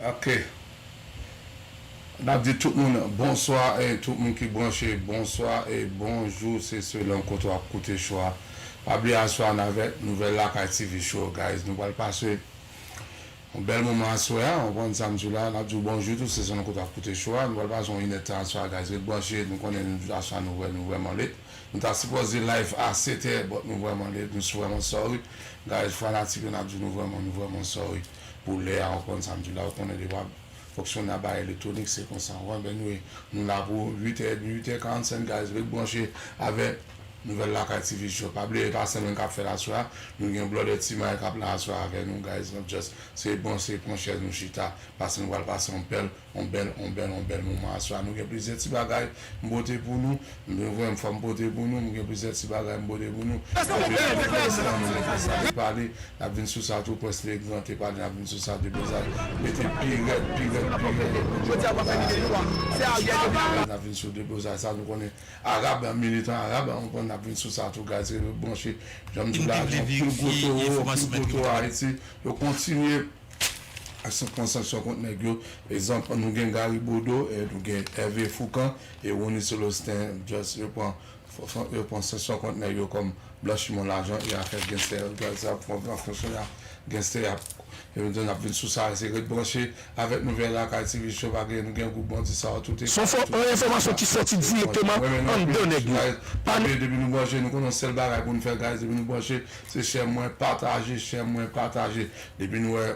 Ok nap di tout moun bonswa e tout moun ki branche bonswa e bonjou se selon kote wap koute show a pa bliye aswè a n avèk nouvèl lakay TV show guys nou pral pase yon bèl moman aswè a ou konprann sa m di w la nap di w bonjou tou se selon kote wap koute show a nou pral pase yon inèdtan aswè a guys ret branche nou konnen aswè a nou vrèman lit. Nou ta sipoze live a 7 è but nou vreman late nou vreman sorry guys fanatik yo nap di nou vreman nou vreman sorry pou lè a ou konn sam di la ou konnen lè wap fonksyone a bagay elektronik se konsa ou konprann anyway nou la pou 8 è edmi 8 è 45 guys ret branche avek nouvel lakay ti vice job pa bliye epa sèm kap fèl aswè a nou gen blòdè ti may kap la aswè a avè nou guys nap just se bon se pran chèz nou chita pase nou pral pase yon bèl. On bèl on bèl on bèl moman aswè a nou gen plizyè ti bagay m pote pou nou m dwe voye m fòm pote pou nou m gen plizyè ti bagay m pote pou nou anpil anpil mèsi nan nou mete sa te pale nap vin sou sa tou prince le grand te pale nap vin sou sa tou deza mete pi rèd pi rèd pi rèd lòt bondye pap anba ariel ariel nap vin sou deblozay sa nou konnen arab militan arab ou konprann nap vin sou sa tou guys rete branche janm diw la nou pil gwo towo pil gwo towo ayiti yo kontinye. Aksyon konsantrasyon kont nèg yo. Egzanp, nou gen Gary Bodeau, nou gen Hervé Fourcand e Rony Celestin just yo pran yo pran sanksyon kont nèg yo kòm blanchiman lajan e afè genstè yo gad sa pran pran sanksyon ya genstè yap yo menm tou nap vin sou sa se ret branche avèk nou vè lakay TV show pa gen nou gen gwoup bandi sa yo tout e Son fo enfòmasyon ki sòti direkteman anndan nèg yo. Pa bliye depi nou branche nou konnen yon sèl bagay pou nou fè guys depi nou branche se share mwen pataje share mwen pataje Depi nou wè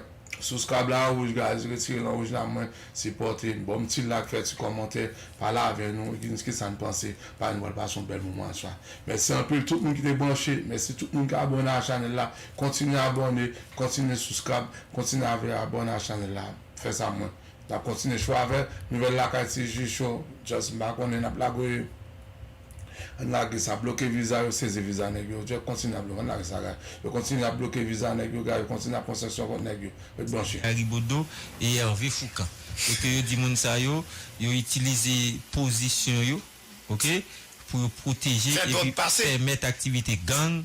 sous krab la an wouj guys retire nan wouj la mwen sipòte n bonm ti lak fè ti kòmantè pale avè nou di n kisa n panse pa nou pral pase yon bèl moman ansa mèsi anpil tout moun ki te branche mèsi tout moun ki abòne a chanèl la kontinye abòne kontinye sous krab kontinye avè abòne a chanèl la fè sa mwen nap kontinye cho avè nouvèl lakay ti ji cho just m pa konnen nap lague. Ann lage sa, bloke viza yo sezi viza nèg yo, yo kontinye ap bloke, ann lage sa guy, yo kontinye ap bloke viza nèg yo guy, yo kontinye ap pran sanksyon kont nèg yo, ret branche. Ayibodo e Hervé Foucand e ke yo di moun sa yo yo itilize pozisyon yo ok pou yo pwoteje epi pèmèt aktivite gang.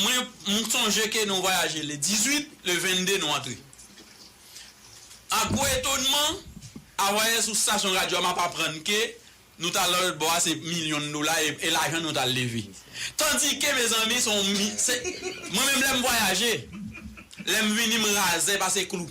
Mwen m sonje ke nou vwayaje le 18, le 22 nou antre. A gwo etonman, avwayè sou stasyon radyo a m ap aprann ke nou t al nan lòt bò a se milyon dola e lajan nou t al leve. Tandike mezanmi se yon, se, mwen menm lè m vwayaje, lè m vini m razè pase klou.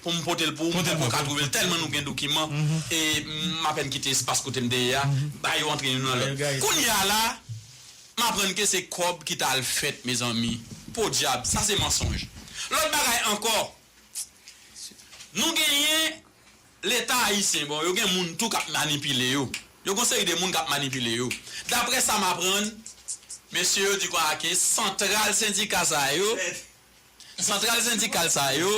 pou m pote l pou ou, m poko ka twouve l tèlman nou gen dokiman e m apèn kite espas kote m te ye a, ba yo antre youn nan lòt. Kounye a la, m aprann ke se kòb ki t al fèt mezanmi, podyab, sa se mansonj. Lòt bagay ankò, nou genyen Leta ayisyen, bon yo gen moun tou k ap manipile yo, yo gen yon seri de moun k ap manipile yo. Daprè sa m aprann, mesye yo di kwa ke santral sendika sa yo, Santral sendikal sa yo,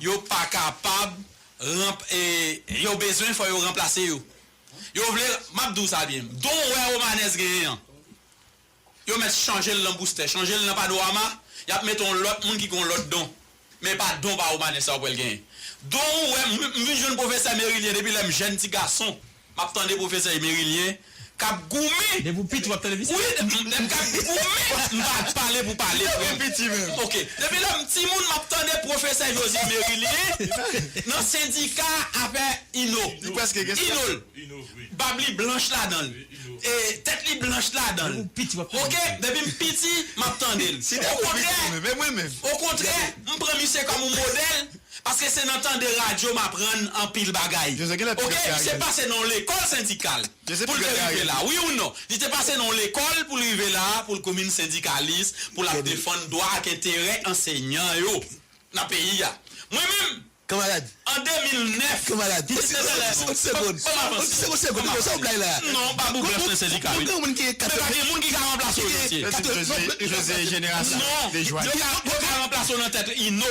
yo pa kapab ranp e yo bezwen fò yo ranplase yo. Yo vle, m ap di w sa byen, don wè Romanès genyen an, yo mèt chanje l nan Boustè, chanje l nan Panorama, y ap mete yon lòt moun ki gen yon lòt don. Men e pa don pa Romanès sa yo pou wè l genyen. Don wè, m vin jwenn pwofesè Merilien depi lè m jèn ti gason. Map tande profesè Emerilien kap goumen. Depi ou piti wap tande misik. Wi lèm ka goumen m pa pale pou pale frèm. Ok depi lèm timoun map tande profesè Josy Emerilien nan sendika afè ino inol bab li blanch ladanl e tèt li blanch ladanl ok depim piti map tandel okontrè okontrè m pran misye kòm yon modèl. Paske se nan tande radio m aprann anpil bagay ok li te pase nan yon lekòl sendikal pou l te rive la wi ou non li te pase nan yon lekòl pou l rive la pou l komin sendikalis pou l ap defann dwa ak enterè anseyan yo nan peyi a mwen menm an 2009 mwen se nan lè banm avanse banm avanse non pa pou blòf nan sendika wi men pa gen moun ki ka ranplase w josye non yo ka ranplase w nan tèt ino.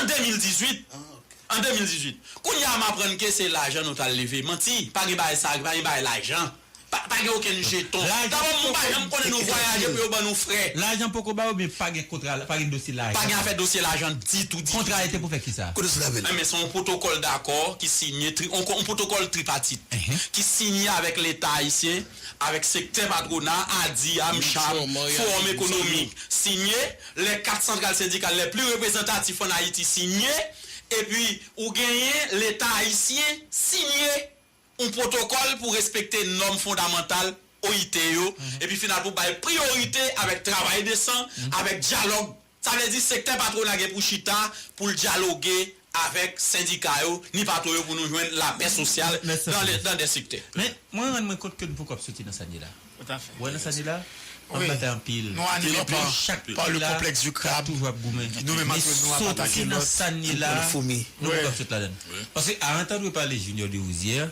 An 2018 An 2018 Kounye a m aprann ke se lajan nou t al leve Manti Pa gen bagay sa Pa gen bagay lajan Pa pa gen okenn jeton Dabò moun pa janm konnen nou vwayaje pou yo ban nou frè Lajan poko bay oubyen pa gen kontra Pa gen dosye lajan Pa gen afè dosye lajan ditou ditou Kontra a e te pou fè kisa? Kote sou lamen l? Enben se yon pwotokòl dakò ki siyen tri yon yon pwotokòl tripatit ki siyen avèk Leta ayisyen avèk sektè patwona ADIHA, MCHAB, Fowòm Ekonomik siyen lè 4 santral sendikal lè pli reprezantatif ann Ayiti siyen, epi ou genyen Leta ayisyen siyen yon pwotokòl pou respekte nòm fondamantal OIT yo, epi final pou bay priyorite avèk travay desan, avèk dyalòg, sa vle di sektè patwona gen pou chita pou l dyaloge avèk sendika yo ni patwon yo pou nou jwenn lapè sosyal nan 2 sektè. Men, mwen rann mwen kont ke nou poko ap soti nan sa n ye la. Ou wè nan sa n ye la, ann batay anpil. Nou anime pa le complexe du crabe. Toujou ap goumen. Nou menm antre nou ap atake lòt. Men soti nan sa n ye la, nou poko ap sot ladan n. Paske a antandwe pale Junior Derosier,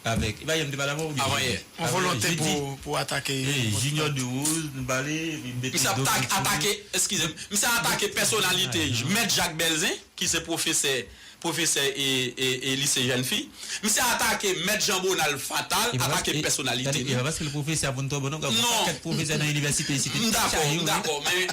avèk avanyè yon volonte pou atake misye ap atake eskize m misye ap atake pèsonalite mèt Jak Bèlzen ki se pwofesè pwofesè lise jèn fi misye atake mèt Jan Bonald fatal atake pèsonalite li non m dakò m dakò men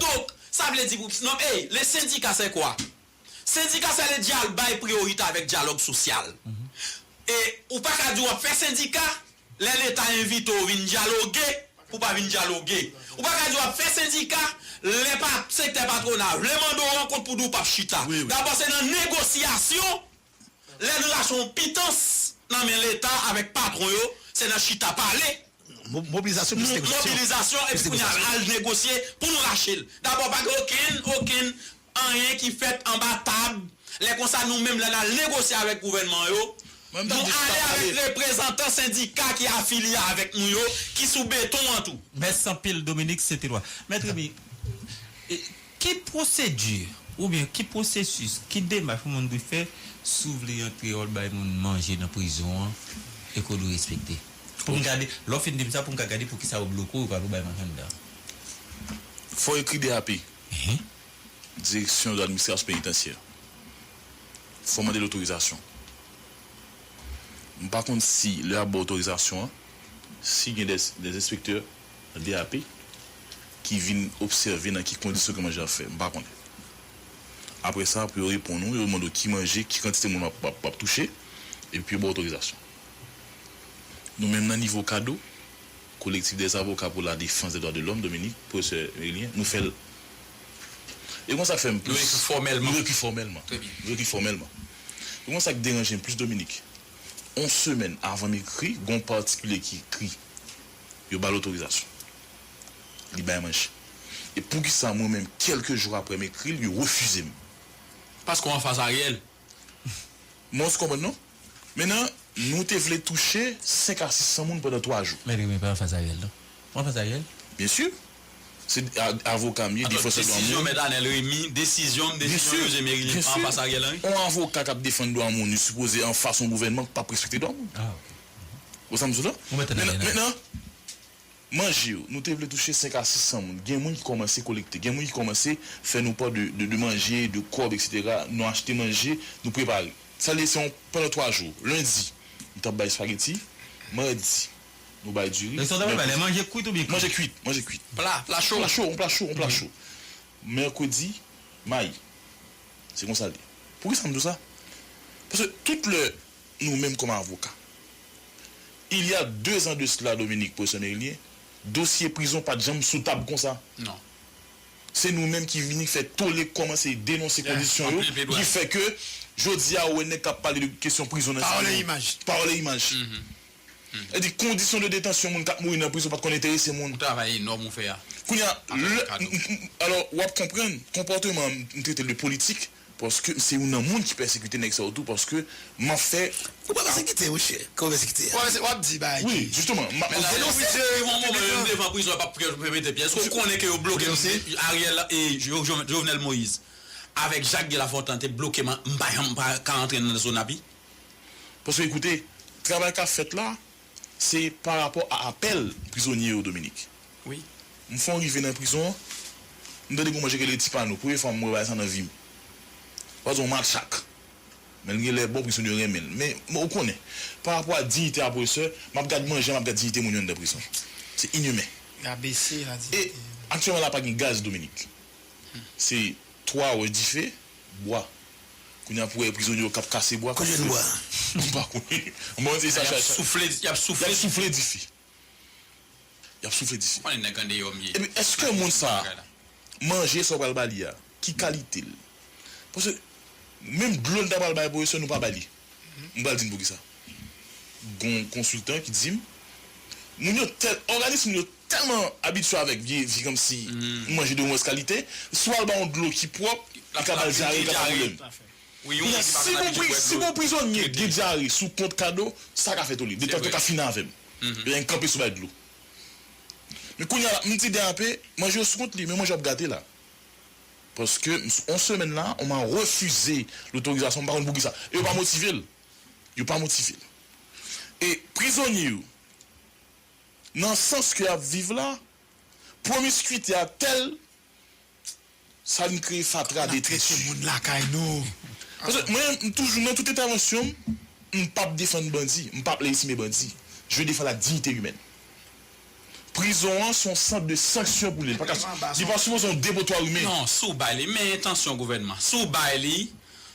Donc sa vle di pou non ey le syndicat c'est quoi? Syndicat c'est le dial bay priorite avec dialogue social e ou pa ka di wap fè sendika lè leta envite w vin dialogue pou pa vin dialogue ou pa ka di wap fè sendika lè pa sektè patronal vle mande w rankont pou di w pap chita dabò se nan negociation Lè nou ta son yon pitans nan men leta avèk patron yo se nan chita pale, mobilizasyon plis negosasyon, mobilizasyon epi kounye a al negosye pou nou rache l. Dabò pa gen okenn, okenn anyen ki fèt anba tab, lè konsa nou menm lè n al negosye avèk gouvènman yo, nou ale avèk reprezantan sendika ki afilye avèk nou yo ki sou beton an tou. Mèsi anpil Dominique St-Eloi. Mèt Remy, Ki pwosedi oubyen ki pwosesis, ki demach yon moun dwe fè si w vle antre ol bay moun manje nan prizon an e ke w dwe respekte? Pou m gade, lè w fin di m sa pou m ka gade pou kisa yo bloke w, yo pa vle w bay manje anndan an. Fò w ekri DAP, Direksyon de Administrasyon Penitansye. Fò w mande l otorizasyon. M pa konn si lè y ap ba w otorizasyon an, si gen dè enspektè. DAP, ki vin obsève nan ki kondisyon ke manje a fè. M pa konnen. Apre sa, pou yo reponn ou, yo mande w ki manje, ki kantite moun w ap touche, epi pou yo ba w otorizasyon. Nou menm nan nivo CADHO, Collectif des avocats pour la défense des droits de l'homme, Dominique, Professeur Merilien, nou fè l. E konsa k fè m plis. Nou ekri fòmèlman. Nou ekri fòmèlman. Trè byen. Nou ekri fòmèlman. E konsa k deranje m plis Dominique. On semèn avan m ekri, gen yon patikilye ki ekri. Yo ba l otorizasyon. Li bay manje. E poukisa mwen menm kelke jou aprè m ekri l yo refize m? Paske w anfas Ariel. Mons konprann non. Men nan, nou te vle touche 5 a 600 moun pandan 3 jou. Mèt Remy pa anfas Ariel non. Ou anfas Ariel? Byen sur. Se avoka m ye, defansè dwa moun. Desizyon mèt Anel Remy, desizyon m, desizyon José Merily m pa anfas Ariel Henry? On avoka kap defann dwa moun li sipoze anfas on gouvènman k pap respekte dwa moun. Ah ok. Ou sa m di w la? Ou mete nan men an. Mentnan, manje yo, nou te vle touche 5 a 600 moun. Gen moun ki kòmanse kolekte. Gen moun ki kòmanse fè nou pa de de manje, de kòb eksetera. Nou achte manje, nou prepare. Sa vle di se yon pandan 3 jou. Lendi, nou t ap bay spageti. Madi, nou bay diri. Sa w t ap bay bay la? Manje kwit oubyen kri? Manje kwit. Manje kwit. Pla, pla cho? Pla cho. Yon pla cho. Yon pla cho. Mèkredi, mayi. Se konsa l ye. Poukisa m di w sa? Paske tout lè nou menm kòm avoka. Il y a deux ans de cela Dominique Professeur Merilien, dosye prizon pat janm sou tab konsa. Non. Se nou menm ki vini fè tole kòmanse denonse kondisyon yo ki fè ke jodi a ou wè nèg kap pale de kesyon prizon nan sa yo. Pawòl e imaj. Sa di kondisyon de detansyon moun kap mouri nan prizon pat konn enterese moun. Yon travay enòm ou fè a. Kounya lè, alò wap konprann konpòteman m trete l de politik. Paske se youn nan moun ki pèsekite nèg sa yo tou paske map fè Ou pa pèsekite wi chè, kè w pèsekite a. Wap di bagay ki. Wi jisteman map Ou denonse piblikman. Devan prizon yo pap fè mete pye eske ou konnen ke yo bloke Ariel e Jovenel Moïse avèk Jacques Guy Lafontant te bloke m pa janm ka antre nan zona pi. Paske koute travay kap fèt la. Se pa rapò a apèl prizonye yo Dominique. Wi. M fon rive nan prizon an, m tande gon manje ki rele Ti Pano. Premye fwa m wè bagay sa nan vi m. Ou pa di yon matchak. Men l gen lè bon, prizonye yo renmen l. Men, ou konnen, pa rapò a diyite a pwofesè, m ap gad manje, m ap gad diyite moun yo anndan prizon. Se inimen. Rabese ladiyite. E, aktyèlman la pa gen gaz Dominique. Se twa wè dife. Bwa. Kounye a pou wè prizonye yo k ap kase bwa. Konbyen bwa? M pa konnen. M pa konnen se sa chay. Y ap soufle, y ap soufle. Y ap soufle dife. Y ap soufle dife. Ou konnen nèg andeyò m ye. Epi èske moun sa a, manje sa ou pral ba li a, ki kalite l? Paske menm dlo n ta pral bay pwofesè nou pa ba li. M pral di n poukisa. Gon yon konsiltan ki di m, moun yo tèl, òganis moun yo tèlman abitye avèk vye vi kòmsi m manje de movèz kalite, si w al ba yon dlo ki pwòp, li ka ba l dyare, li ka ba l pwoblèm. Kounye a, si gon pri, si gon prizonye gen dyare sou kont Kado, sa ka fè tole. Detant yo ka fini avè m. Lè yon kanpe sou bay dlo. Men kounye a la, m di Dèape, manje yo sou kont li, men manje yo ap gate la. Paske on semèn la on m'a refuze l'autorisation m'pa konn poukisa. E yo pa motive l'. Yo pa motive l'. E prizonye yo nan sans ke y'ap viv la promiscuité a tèl sa vin kreye fatra de trè tu. Paske mwen m'toujou nan tout entèvansyon m' m'pap defann bandi, m'pap lejitime bandi. Je defann la dignité humaine. Prizon an se yon sant de sanksyon pou li. Li pa ka, li pa sipoze yon depotwa wi men. Non, si w bay li, men entansyon gouvènman. Si w bay li,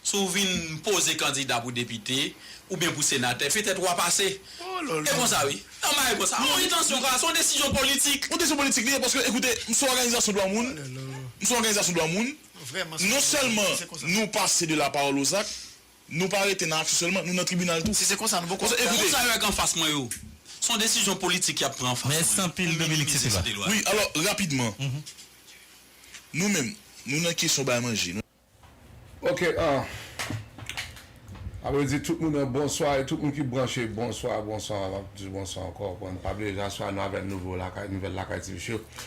si w vin poze kandida pou depite, oubyen pou senatè, petèt w a pase. E konsa wi. Nan bagay konsa. Se yon entansyon ka, se yon desizyon politik. Yon desizyon politik li ye, paske ekoute, m se yon òganizasyon dwa moun, m se yon òganizasyon dwa moun, non sèlman nou pase de la pawòl o zak, Nou pa rete nan aksyon sèlman, nou nan tribinal tou. Si se konsa, nou poko ap gade. Moun sa yo ak anfas mwen yo, se yon desizyon politik y ap pran anfas mwen yo pou minimize site lwa yo. Wi, alò, rapidman, nou menm, nou nan kesyon bay manje, nou. Ok, an. Mwen ap redi tout moun bonswa e tout moun ki branche bonswa, bonswa, mwen ap di bonswa ankò. Bon, nou pa bliye Jaswa, nou avè nouvo lakay, nouvèl lakay TV Show.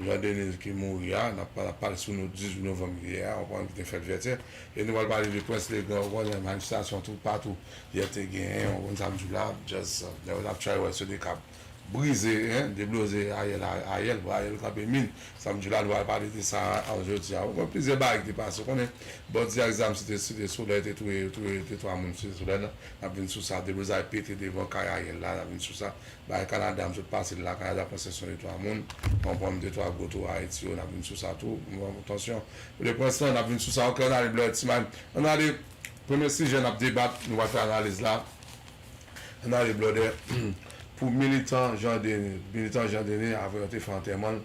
Jean Denis ki mouri a, n ap pale ap pale sou nou 18 novanm li ye a, ou konprann ki te fèt Vètyè, e nou pral pale de Prince Legrand, ou konnen manifestasyon tout patou yè te genyen, ou konn sa m di w la, just nèg yo t ap tchay wè sou de kab brize, hein, debloze Ariel a, Ariel, pou Ariel kanpe min, sa m di w la nou pral pale de sa a jodi a, ou konprann plizyè bagay ki te pase, ou konnen bandi ak zam site site solèy te touye, touye 2 3 moun site solèy nan, n ap vin sou sa, deblozay pete devan kay Ariel la, n ap vin sou sa. Bay Canada m sot pase lakay la panse son de 3 moun pran pranm de 3 gwo tou Ayiti yo nap vin sou sa tou tansyon le prince lan nap vin sou sa ok ann ale blòdè ti may ann ale premye sijè nap debat nou pral fè analiz la ann ale blòdè pou militan Jean Denis militan Jean Denis aprè yo te fè antèman l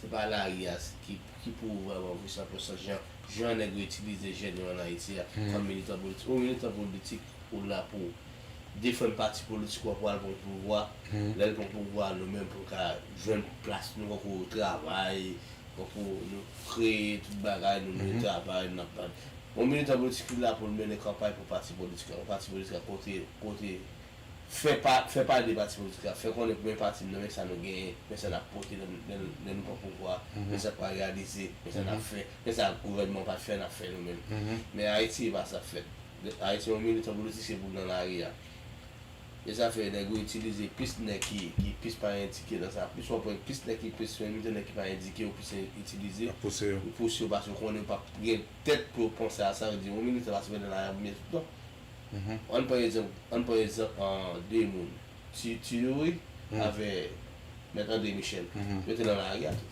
Se pa lari a ki pou ou vrèman vre san pèsòn jan nèg yo itilize jèn yo an Ayiti a kòm militan politik. Ou militan politik ou la pou defann pati politik ou a pou al pran pouvwa. Lè l pran pouvwa a nou menm pou n ka jwenn plas nou konkou travay, konkou nou kreye tout bagay nou nou travay n ap. Yon militan politik li la pou l mennen kanpay pou pati politik la. Yon pati politik la kote. Fè pa fè pati de pati politik la, fè konnen premye pati nou men sa nou genyen, men sa nap pote lè lè lè nou pran pouvwa a, men sa k pral reyalize, men sa nap fè, men sa gouvènman an pat fè nap fè nou menm. Men Ayiti e pa sa k fèt. Ayiti yon militan politik se pou l nan lari a. E sa fè nèg yo itilize plis nèg ki ki plis pa endike nan sa, plis w ap wè plis nèg ki plis yon militan nèg ki pa endike yo plis itilize Ap pouse yo. pou pouse yo paske yo konnen yo pap gen tèt pou yo panse a sa, yo di yon militan pa sipoze nan lari a pou l byen fèt non. Ann pran egzanp de moun Tutu Youri avè Mèt Andre Michel. Yo te nan lari a tou.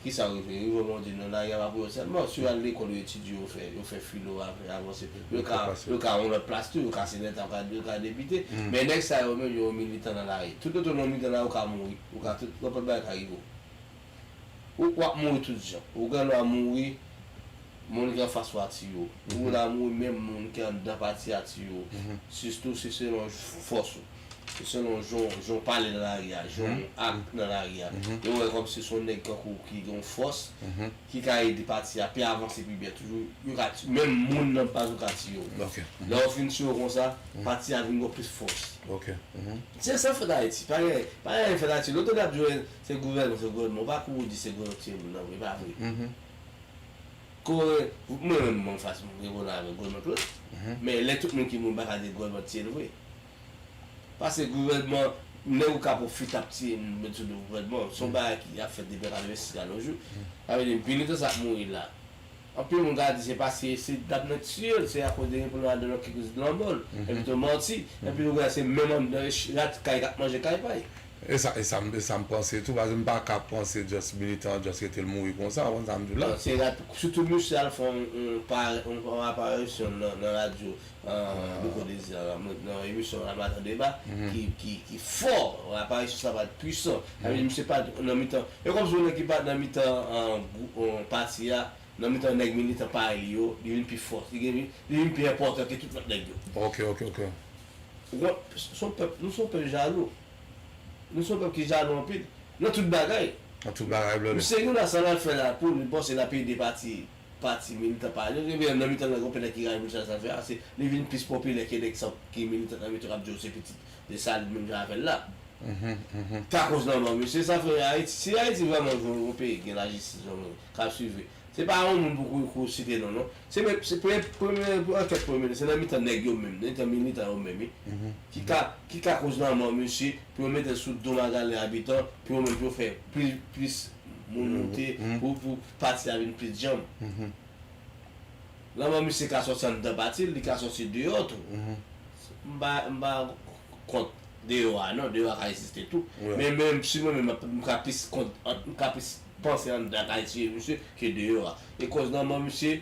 Kisa yo rive? Yo rive yon moman donne, lari a pa pou yo sèlman. Si yo al lekòl, yo etidye, yo fè, yo fè filo avè avanse. Yo ka, yo ka yon lòt plas tou. Yo ka seneta, yo ka depite. Men nèg sa yo menm yo yon militan nan lari. Toutotan w nan militan nan lari, ou ka mouri. Ou ka tout, nenpòt bagay ka rive w. Ou wap mouri tout jan. Ou gen lwa mouri moun ki anfas ou a tiye w. Ou gen lwa mouri menm moun ki anndan pati a tiye w. Sitou se selon fòs ou. Se selon jan w pale nan lari a, jan w ak nan lari a. Yo wè kòmsi se yon nèg tankou w ki gen yon fòs ki ka ede pati a pi avanse pi byen toujou. Yo ka tiye w. Menm moun nan baz ou ka tiye w. Lè yo fin tiye w konsa, pati a vin gen plis fòs. Se sa k fèt Ayiti. Pa gen anyen k fèt Ayiti. Lè w tande y ap jwe Se gouvènman se gouvènman ou pa pou ou di se gouvènman ki tiye moun nan vre epa vre kore mwen menm mwen fas mwen reponn avèk gouvènman tout men lè tout moun ki moun paka di gouvènman ki tiyel vre pase gouvènman nèg ou kap ou fut ap tiye moun met sou do gouvènman son bagay ki ap fèt depi an 86 la nojou sa vle di vini tan sa ap mouri la. Anpil moun ka di se paske se dam nan tiye l se akoz de yon pil ladò ki koz lanmò l epi tou manti epi nou konnen se menm anndan rat kay kap manje kay pay. Esa m panse tou paske m pa ka panse just militan an just kite l mouri konsa ou konn sa m di w la. Non se rat sitou misye al fè yon aparisyon nan radyo Nou konnen Zara mwen t nan emisyon la matan deba ki fò aparisyon sa pat pwisan avèdye misye pat nan mitan e kòmsi yon nèg ki pat nan mitan pati a nan mitan nèg militan parèy li yo li vin pi fò li vin pi enpòtan ke tout lòt nèg yo ou konprann nou son pèp jalou nou son pèp ki jalou anpil nan tout bagay misye gen yon asanl al fè la poul panse lap ede pati pati militan pa yo. Ebyen nan mitan gang yo pèdè ki rayi moun sa sa fè a se li vin plis popilè ke nèg sa ki militan nan metro kap di yo se pitit Desalin menm jan avèl la. Se akoz lanmò misye sa fè Ayiti si Ayiti vrèman vle yon peyi ki gen lajistis yon moun kap swive se pa yon moun pou ou site non non se menm se premye premye ankèt premye minis se nan mitan nèg yo menm nan mitan militan yo menm wi ki ka ki ka koz lanmò misye pou yo metel sou do magalè abitan pou yo menm pou yo fè plis plis moun moute pou pou pati a vin plis djanm. Lanmò misye ka sòti anndan pati l, li ka sòti deyò tou. M pa, m pa kont deyò a non, deyò a ka egziste tou. Men menm si mwen menm m ka plis kont, m ka plis panse anndan a ka tiye misye ke deyò a. E kòz lanmò misye.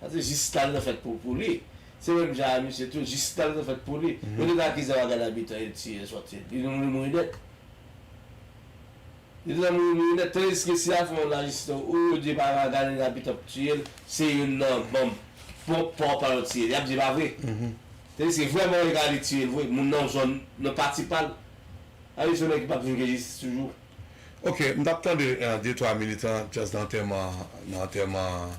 Paske Jistal nan fèt pou pou li. Se menm jan a misye tou, Jistal nan fèt pou li. Yo te nan akize Wagan Abitan yo tiye yo sòti. Li nan mouri mouri nèt. Li nan mouri mouri nèt. Tandiske si y a fè yon lajistis ou yo di pa Wagan Abitan k tiye l, se youn nan manm pwòp pa w pa yo tiye l. Y ap di e pa vre. Tandiske vrèman yo ka ale tiye l vre, moun nan zòn, nan pati pa l. A li se yon nèg ki pa p vin gen jistis toujou. Ok, m t ap tande de twa militan just nan antèman nan antèman.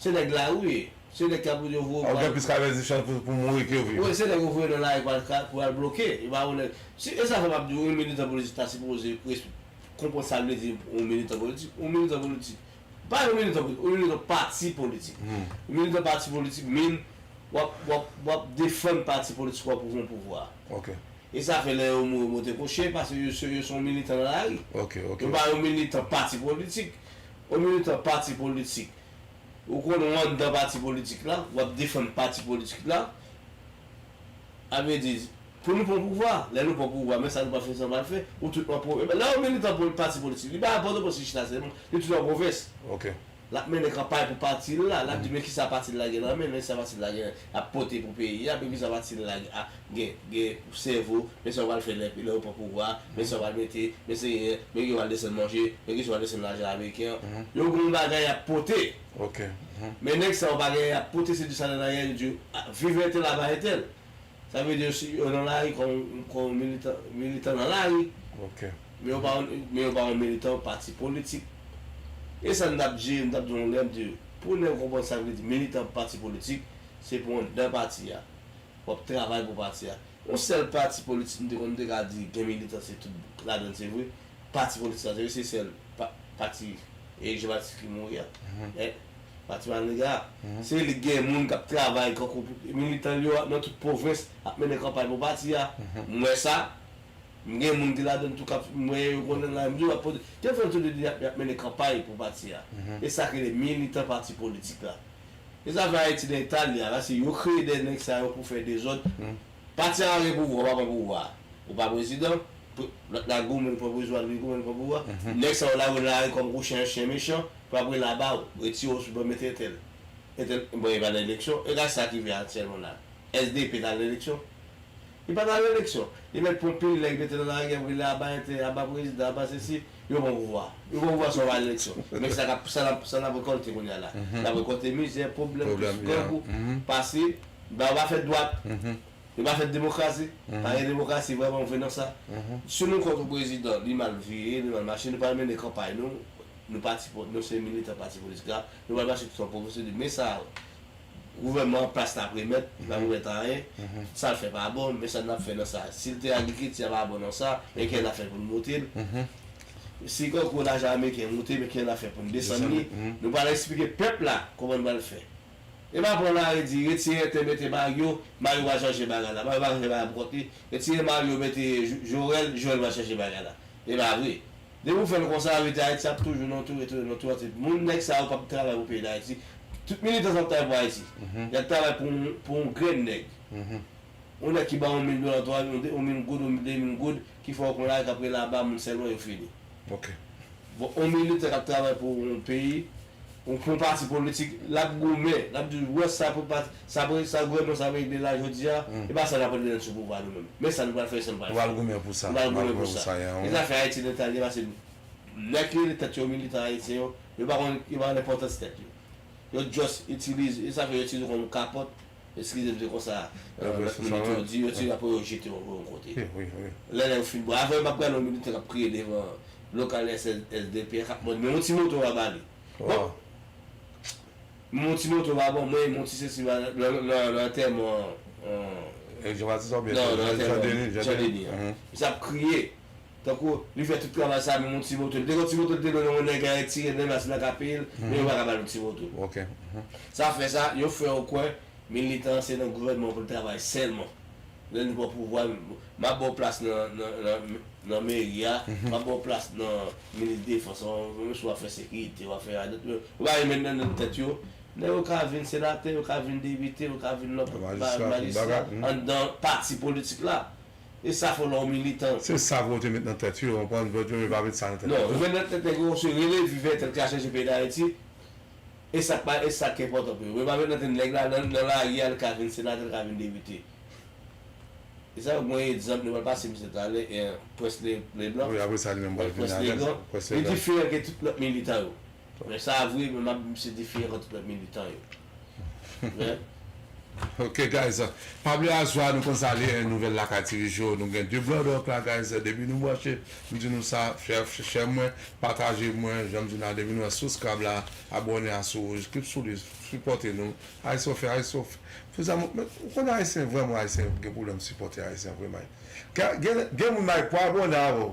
Se nèg la wi, se nèg kap yo voye pou al. Ou gen plis ka vè di chans pou pou mouri ke viv. Wi se nèg yo voye nan lari pou al ka pou al bloke, yo pa konnen si e sa fè map di ou yon militan politik ta sipoze res konprann sa vle di yon militan politik, yon militan politik pa yon militan politik, yon militan pati politik yon militan pati politik min wap wap wap defann pati politik wap pou yon pouvwa ok e sa fè lè yo mouri yo monte kochye paske yo se yo son militan nan lari ok ok yo pa yon militan pati politik Ou militan pati politik, ou konn ou anndan pati politik la, w ap defann pati politik la, ap yo di, pou nou pran pouvwa, lè nou pran pouvwa men sa nou pral fè, sa nou pral fè, ou tout an pwovens. Lè yon militan pati politik, li pa nan Pòtoprens li chita sèlman, li tout an pwovens. L ap mennen kanpay pou pati l la, l ap di men kisa pati l la gen nan men, men sa pati l la gen. ap pote pou peyi a depi sa pa ti la gen sèvo men sa yo pral fè lè yo pran pouvwa men sa yo pral mete men seye men kisa yo pral desann manje men kisa yo pral desann lajan ameriken an yo gon bagay yap pote men nèg sa yo pa gen yap pote se di sa nana yè yo di viv entèl aba entèl sa vle di yo nan lari kon militan nan lari. Men yo pa yon men yo pa yon militan pati politik. E sa n t ap di yo, n t ap di yon lè di yo, pou nèg konprann sa vle di militan pati politik, se pou anndan pati a. W ap travay pou pati a. Yon sèl pati politik m te konn m te ka di gen militan se tout ladan l se vre, pati politik sa se vre se sèl pa pati Erik Jan Batis ki mouri a. Men, pati Maniga a, se li k gen moun k ap travay kankou pou militan l yo a nan tout pwovens ap mennen kanpay pou pati a. M wè sa. M gen moun ki ladann tou kap m wè yo konnen la m di w ap pote te fè tout de di yap mennen kanpay pou pati a e sak rele militan pati politik la e zafè ayiti nan eta l ye a la se yo kreye dèyè nèg sa yo pou fè dezòd pati a pa gen pouvwa w pa pran pouvwa a ou pa prezidan lòt la goumen l pran pouzwa li goumen l pran pouvwa nèg sa yo lage w nan lari kòm kou chen chen mechan pou apre l aba w retire w sou ban mete entèl entèl bon e pa nan eleksyon e gad sa ki rive aktyèlman la SDP t al nan eleksyon Li pa nan releksyon. Li mèt pran pil nèg mete nan lari apre li aba entè, aba prezidan, aba sesi, yo pran pouvwa. Yo pran pouvwa san yo pa al eleksyon. Men sa kap sa nap sa nap rekòlte kounye a la. Nap rekòlte mizè, pwoblèm, twist, grangou, pase, ba yo pa fèt dwat. Yo pa fèt demokrasi. Pa gen demokrasi vrèman vre nan sa. Si nou kont yon prezidan, li mal veye, li mal mache, nou pral mennen kanpay nou, nou pati nou se militan pati politik la, nou pral mache tout an pwofesè li. Men sa Gouvènman an plas lap remèt, lap remèt anyen, tout sal fè pa bon, men sa nap fè nan sa. Sil te agrikilti a pa bon nan sa, men kijan nap fè poun moute l. Si konkou lajan ameriken moute, men kijan nap fè poun desann li. Nou pral eksplike pèp la kòman nou pral fè. E pa pran lari di retire entè mete Mario, Mario va chanje bagay la. Mario pa ka chanje bagay pou kont li. Retire Mario mete Jorèl, Jorèl va chanje bagay la. E pa vre. Depi ou fèl konsa rete ayiti ap toujou nan toure toure nan twati moun nèg sa yo pap travay pou peyi dayiti tout militan sa ap travay pou ayiti yap travay pou yon pou yon grenn nèg yon nèg ki baw yon mil dola twa mil yon mil goud yon de mil goud ki fè ou konn ale kap rele aba moun sèlman yo fini bon yon militan kap travay pou yon peyi Ou pran pati politik, l ap goumen, l ap di ou wè sa pou pati, sa pou sa gouvènman sa regle la jodi a, e pa sa n ap regle lè n sou pouvwa nou menm. Men sa nou pral fè san pati. Nou pral goumen pou sa. Nou pral goumen pou sa. E zafè Ayiti nan ta li a pase nèg ki rele tèt yo militan ayisyen yo, yo pa konn, yo pa konn enpòtans tèt yo. Yo just itilize, e sa fè yo itilize yo kòm kapòt Eskize m se konsa lòt minit yo di yo ti apre yo jete w yon kote. Lè yo fin bwè avan yo pa pran non yo te ap kriye devan lokal SSDP an k ap mande men yon ti moto pa ba li. Bon men yon ti moto pa ban mwen, men yon ti sesi pa ba li nan antèman Jan Denis an. Misye ap kriye. Tankou, li fè tout travay sa menm yon ti moto, li te gen yon ti moto li te lwe nan yon nèg la retire nèg la se nan ka peye l, men yo pa ka ba l yon ti moto. Sa fè sa, yo fè yo kwè militan se nan gouvènman pou l travay sèlman. Lè li pran pouvwa l, m ap ba w plas nan meri a, m ap ba w plas nan minis defans an, menm si w ap fè sekirite, w ap fè radòt, yo pa menm met nan nan tèt yo, nèg yo ka vin senatè, yo ka vin depite, yo ka vin lòt bagay, majistra, anndan pati politik la. E sa fò lè w militan. Se sa pou yo te met nan tèt yo, konprann, yo yo pa met sa nan tèt yo. Non, yo met nan tèt nèg yo se rele vi vètè l ka chanje peyi Dayiti, e sa k pa e sa k enpòtan pou yo. Yo pa met nan tèt nèg la nan nan lari a l ka vin senatè, l ka vin depite. E sa yo gen yon egzanp yo pral pase misye talè en Prince Le Leblanc, Wi, apre sa li menm pral vin Prince alèz, Legrand, Prince li Legrand. diferan ke tout lòt militan yo. Mwen sa vre men m ap di misye diferan ke tout lòt militan yo. Ok guys pa bliye a zwa nou konn sa li ye nouvel lakay tivijo nou gen 2 blood ok la guys depi nou branche m di nou sa chè mwen pataje mwen janm di nou la depi nou wè souskrab la abòne a sou wouj klip sou li sipòte nou ayisofe ayisof fou zanmi w ou konn ayisyen vrèman ayisyen gen pwoblèm sipòte ayisyen vre may gen gen moun may pou abòne avèw.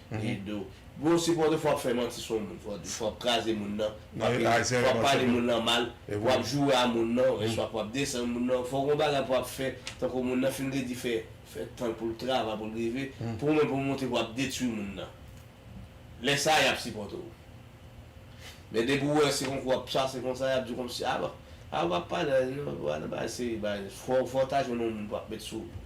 Edo. Bro se fòde fwa ap fè manti sou moun fòde fwa ap kraze moun nan fwa ap pale moun nan mal fwa ap joure a moun nan eswa fwa ap desann moun nan fò gon bagay fwa ap fè tankou moun nan fin redi fè fè tanl poul travay poul rive pou ou menm pou monte fwa ap detwi moun nan lè sa yap sipòte w men depi ou wè se konkou wap pase konsa yap diw kòmsi a bon a ou pap pale a nan bagay seri bagay fò fò ta jwenn yon moun pou ap met sou ou.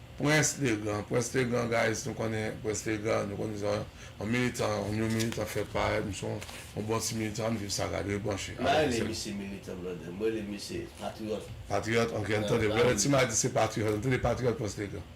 Prince Legrand Prince Legrand guys nou konnen Prince Legrand nou konnen sa yon militan yon new militan k fè parèt misye yon yon bon ti militan ann viv saga dwe branche M pa rele misye militan brother m rele misye patriyòt Patriyòt ok ann tande brother ti madi se patriyòt ann tande patriyòt Prince Legrand.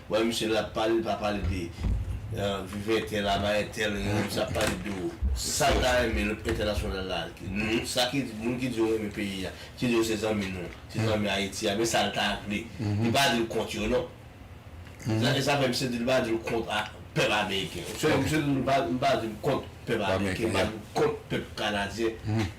Wè misye lap pale li pa pale de viv entè la bay entè li menm sa ap pale de ou sal ta renmen lòt entènasyonal la ak nou sa ki moun ki diw renmen peyi a ki diw se zanmi nou se zanmi ayiti a men sal ta vle li pa dil kont yo non e sa fè misye di li pa dil kont a pèp ameriken misye di m pa di m kont pèp ameriken m pa di m kont pèp kanadyen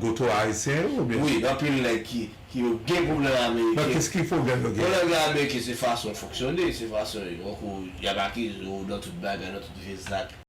Goto ayisyen yo oubyen? Wi anpil nèg ki ki yo gen pwoblèm ameriken. Bon kiski pwoblèm yo gen? Pwoblèm gen ameriken se fason yo fonksyone, se fason yo tankou y ap akize w nan tout bagay, nan tout vye zak.